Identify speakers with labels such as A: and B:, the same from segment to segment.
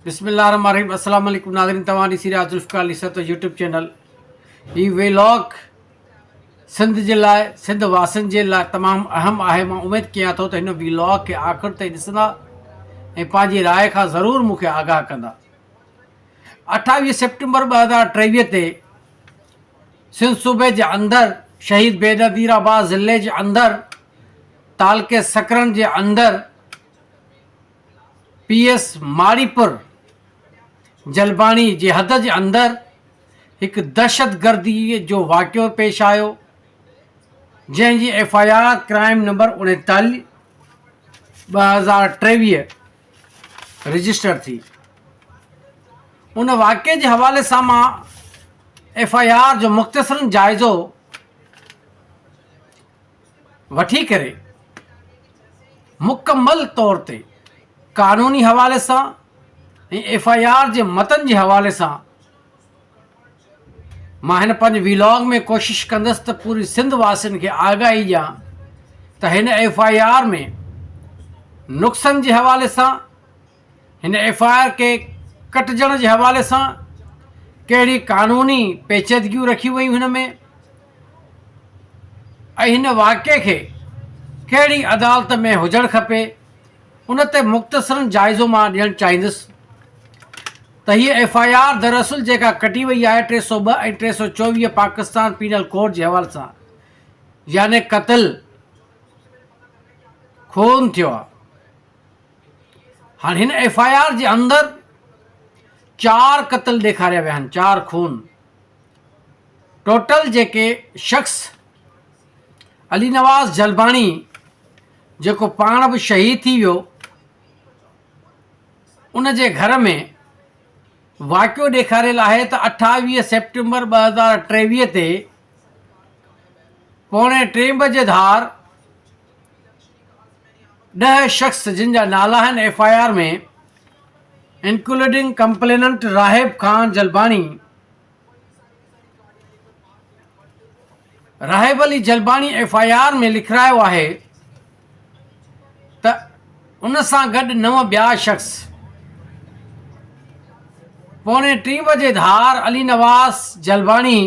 A: بسم الله الرحمن الرحيم السلام عليڪم ناظرين توهان ڏسي رهيا ذوالفقار علي سرتو يوٽيوب چينل هي ويلاگ سنڌ جي لاء سنڌ واسن جي لاء تمام اهم آهي مان اميد ڪيان ٿو ته هن ويلاگ کي آخر تائين ڏسندا ۽ پنهنجي راء کان ضرور مون کي آگاهه ڪندا اٺاويهه سيپٽمبر ٻه هزار ٽيويهه تي سنڌ صوبي جي اندر شهيد بينظير آباد ضلعي جي اندر تعلقي سکرن جي اندر پي ايس ماڙيپور جلباڻي جي حد جي اندر هڪ دهشتگردي جو واقعو پيش آيو جنهن جي F I R crime number اڻيتالي ٻه هزار ٽيويهه رجسٽر ٿي ان واقعي جي حوالي سان مان ايف آء آر جو مختصرن جائزو وٺي ڪري مڪمل طور تي قانوني حوالي سان ۽ ايف آء آر جي متن جي حوالي سان مان هن پنهنجي ويلاگ ۾ ڪوشش ڪندس ته پوري سنڌ واسين کي آگاهي ڏيان ته هن ايف آء آر ۾ نقصن جي حوالي سان هن ايف آء آر کي ڪٽجڻ جي حوالي سان ڪهڙي قانوني پيچيدگيون رکيون ويون هن ۾ ۽ هن واقعي کي ڪهڙي عدالت ۾ هجڻ کپي ان تي مختصرن جائزو مان ڏيڻ چاهيندس ته هيء ايف آء آر دراصل جيڪا ڪٽي وئي آهي ٽي سو ٻه ۽ ٽي سو چوويهه پاڪستان پينل ڪوڊ جي حوالي سان يعني قتل خون ٿيو آهي هاڻ هن ايف آء آر جي اندر چار قتل ڏيکاريا ويا آهن چار خون ٽوٽل جيڪي شخص علي نواز جلباڻي جيڪو پاڻ به شهيد ٿي ويو ان جي گهر ۾ واقعو ڏيکاريل آهي ته اٺاويهه سيپٽمبر ٻه هزار ٽيويهه تي پوڻي ٽي بجي ڌار ڏهه شخص جن جا نالا آهن F I R ۾ including complainant Rahib Khan Jalbani Rahib Ali Jalbani F I R ۾ لکرايو آهي ته ان سان گڏ نو ٻيا شخص پوڻي ٽي بجي ڌار علي نواز جلباڻي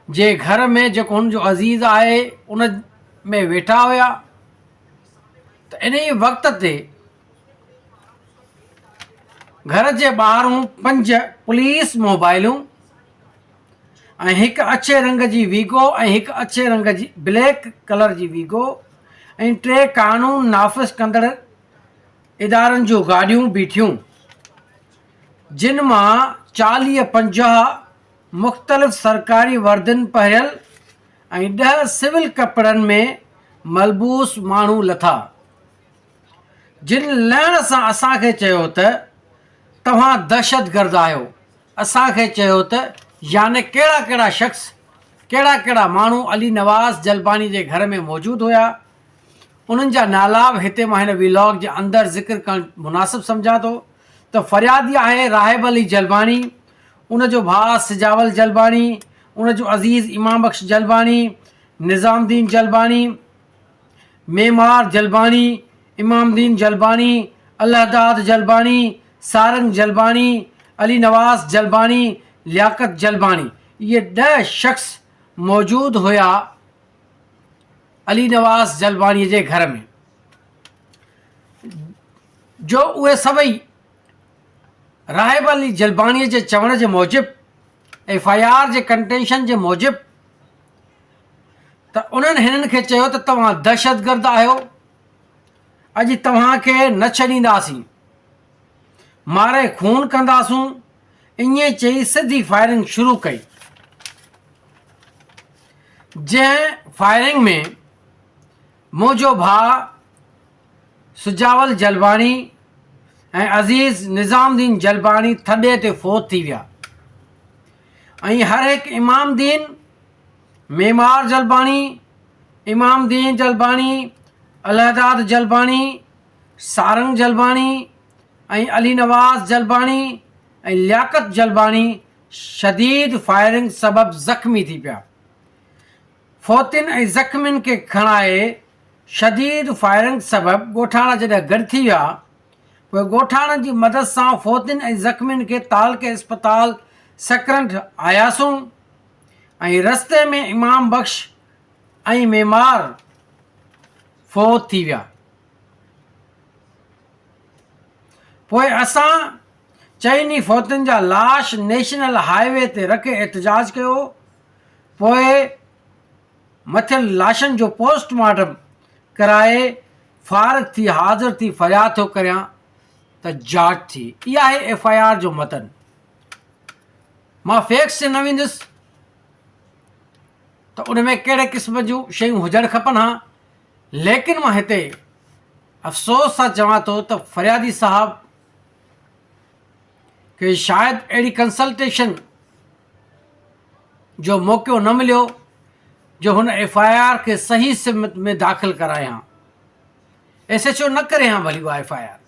A: جي گهر ۾ جيڪو هن جو عزيز آهي ان ۾ ويٺا هيا ته انهي وقت تي گهر جي ٻاهرون پنج پوليس موبائلون ۽ هڪ اڇي رنگ جي ويگو ۽ هڪ اڇي رنگ جي بليڪ ڪلر جي ويگو ۽ ٽي قانون نافذ ڪندڙ ادارن جون گاڏيون بيٺيون جن مان چاليهه پنجاهه مختلف سرڪاري وردين پهريل ۽ ڏهه سول ڪپڙن ۾ ملبوس ماڻهو لٿا، جن لهڻ سان اسان کي چيو ته، توهان دهشتگرد آهيو. اسان کي چيو ته، يعني ڪهڙا ڪهڙا شخص، ڪهڙا ڪهڙا ماڻهو علي نواز جلباني جي گهر ۾ موجود هيا، انهن جا نالا به هتي مان هن ويلاگ جي اندر ذڪر ڪرڻ مناسب سمجهان ٿو ته فريادي آهي راهب علي جلباني، ان جو ڀاء سجاول جلباڻي، ان جو عزيز ايمان بخش جلباڻي، نظام الدين جلباڻي، معمار جلباڻي، امام الدين جلباڻي، الهداد جلباڻي، سارنگ جلباڻي، علي نواز جلباڻي، لياقت جلباڻي اهي ڏهه شخص موجود هيا علي نواز جلباڻي جي گهر ۾ جو اهي سڀئي راهب علي جلباڻي جي چوڻ جي موجب ايف آء آر جي ڪنٽينشن جي موجب ته انهن هنن کي چيو ته توهان دهشتگرد آهيو اڄ توهان کي نه ڇڏينداسين ماري خون ڪنداسون ائين چئي سڌي فائرنگ شروع ڪئي جنهن فائرنگ ۾ منهنجو ڀاء سجاول جلباڻي ۽ عزيز نظام الدين جلباڻي ٿڏي تي فوت ٿي ويا ۽ هر هڪ امام الدين معمار جلباڻي امام الدين جلباڻي الهداد جلباڻي سارنگ جلباڻي ۽ علي نواز جلباڻي ۽ لياقت جلباڻي شديد فائرنگ سبب زخمي ٿي پيا فوتين ۽ زخمين کي کڻائي شديد فائرنگ سبب ڳوٺاڻا جڏهن گڏ ٿي ويا پوء ڳوٺاڻن جي مدد سان فوتين ۽ زخمين کي تعلقي اسپتال سڪرنڊ آياسون ۽ رستي ۾ امام بخش ۽ معمار فوت ٿي ويا پوء اسان چئني فوتين جا لاش نيشنل هاء وي تي رکي احتجاج ڪيو پوء مٿيل لاشن جو پوسٽ مارٽم ڪرائي فارغ ٿي حاضر ٿي فرياد ٿو ڪريان ته جاچ ٿي اي آهي ايف آء آر جو متن مان فيڪس تي نه ويندس ته ان ۾ ڪهڙي قسم جون شيون هجڻ کپن ها ليڪن مان هتي افسوس سان چوان ٿو ته فريادي صاحب کي شايد اهڙي ڪنسلٽيشن جو موقعو نه مليو جو هن ايف آء آر کي صحيح سمت ۾ داخل ڪرائي هان ايس ايچ او نه ڪري هان ڀلي اها ايف آء آر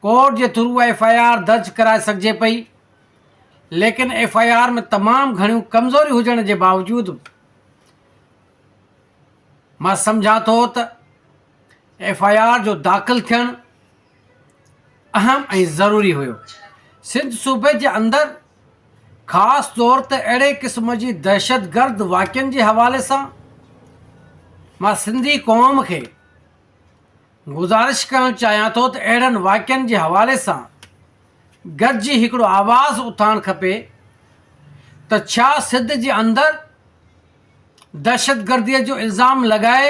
A: ڪورٽ جي ٿرو اها ايف آء آر درج ڪرائي سگهجي پئي ليڪن ايف آء آر ۾ تمام گهڻيون ڪمزوري هجڻ جي باوجود مان سمجهان ٿو ته ايف آء آر جو داخل ٿيڻ اهم ۽ ضروري هيو، سنڌ صوبي جي اندر خاص طور تي اهڙي قسم جي دهشتگرد واقعن جي حوالي سان مان سنڌي قوم کي گذارش ڪرڻ چاهيان ٿو ته اهڙن واقعن جي حوالي سان گڏجي هڪڙو آواز اٿارڻ کپي ته ڇا سنڌ جي اندر دهشتگردي جو الزام لڳائي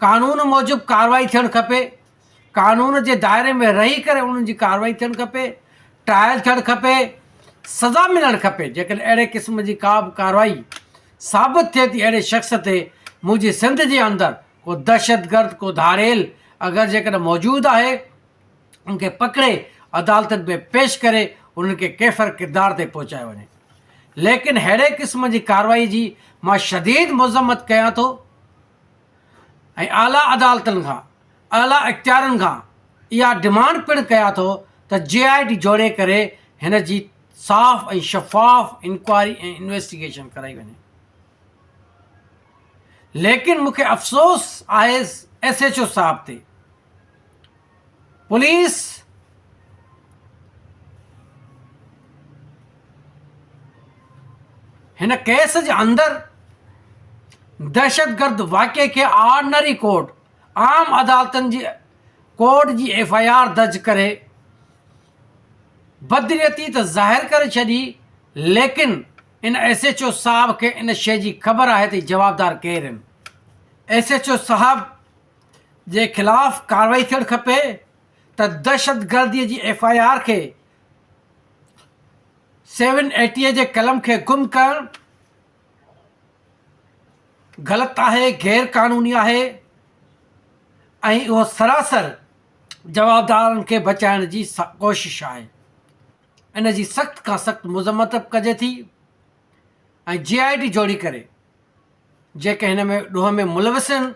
A: قانون موجب ڪارروائي ٿيڻ کپي قانون جي دائري ۾ رهي ڪري انهن جي ڪارروائي ٿيڻ کپي ٽرائل ٿيڻ کپي سزا ملڻ کپي جيڪڏهن اهڙي قسم جي ڪا به ڪارروائي ثابت ٿئي ٿي اهڙي شخص تي منهنجي سنڌ جي اندر ڪو دهشتگرد ڪو ڌاڙيل اگر جيڪڏهن موجود آهي انهن کي پڪڙي عدالتن ۾ پيش ڪري انهن کي ڪيفر ڪردار تي پهچايو وڃي ليڪن ههڙي قسم جي ڪارروائي جي مان شديد مذمت ڪيان ٿو ۽ اعليٰ عدالتن کان اعليٰ اختيارن کان اها ڊمانڊ پڻ ڪيان ٿو ته جي آء ڊي جوڙي ڪري هن جي صاف ۽ شفاف انڪوائري ۽ انويسٽيگيشن ڪرائي وڃي ليڪن مون کي افسوس آهي ايس ايچ او صاحب تي پوليس هن ڪيس جي اندر دهشتگرد واقعي کي آرڊنري ڪورٽ عام عدالتن جي ڪورٽ جي ايف آء آر درج ڪري بدنيتي ته ظاهر ڪري ڇڏي ليڪن ان ايس ايچ او صاحب کي ان شيء جي خبر آهي ته جوابدار ڪير آهن ايس ايچ او صاحب جي خلاف ڪارروائي ٿيڻ کپي ته دهشتگردي جي ايف آء آر کي سيون ايٽي جي قلم کي گم ڪرڻ غلط آهي غير قانوني آهي ۽ اهو سراسر جوابدارن کي بچائڻ جي ڪوشش آهي ان جي سخت کان سخت مذمت ڪجي ٿي ۽ جي آء ٽي جوڙي ڪري جيڪي هن ۾ ڏوهه ۾ ملوث آهن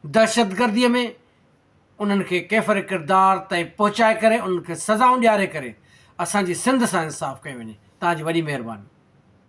A: دهشتگردي ۾ انهن کي ڪيفر ڪردار تائين پهچائي ڪري انهن کي سزائون ڏياري ڪري اسان جي سنڌ سان انصاف ڪيو وڃي تهان جي وڏي مهرباني.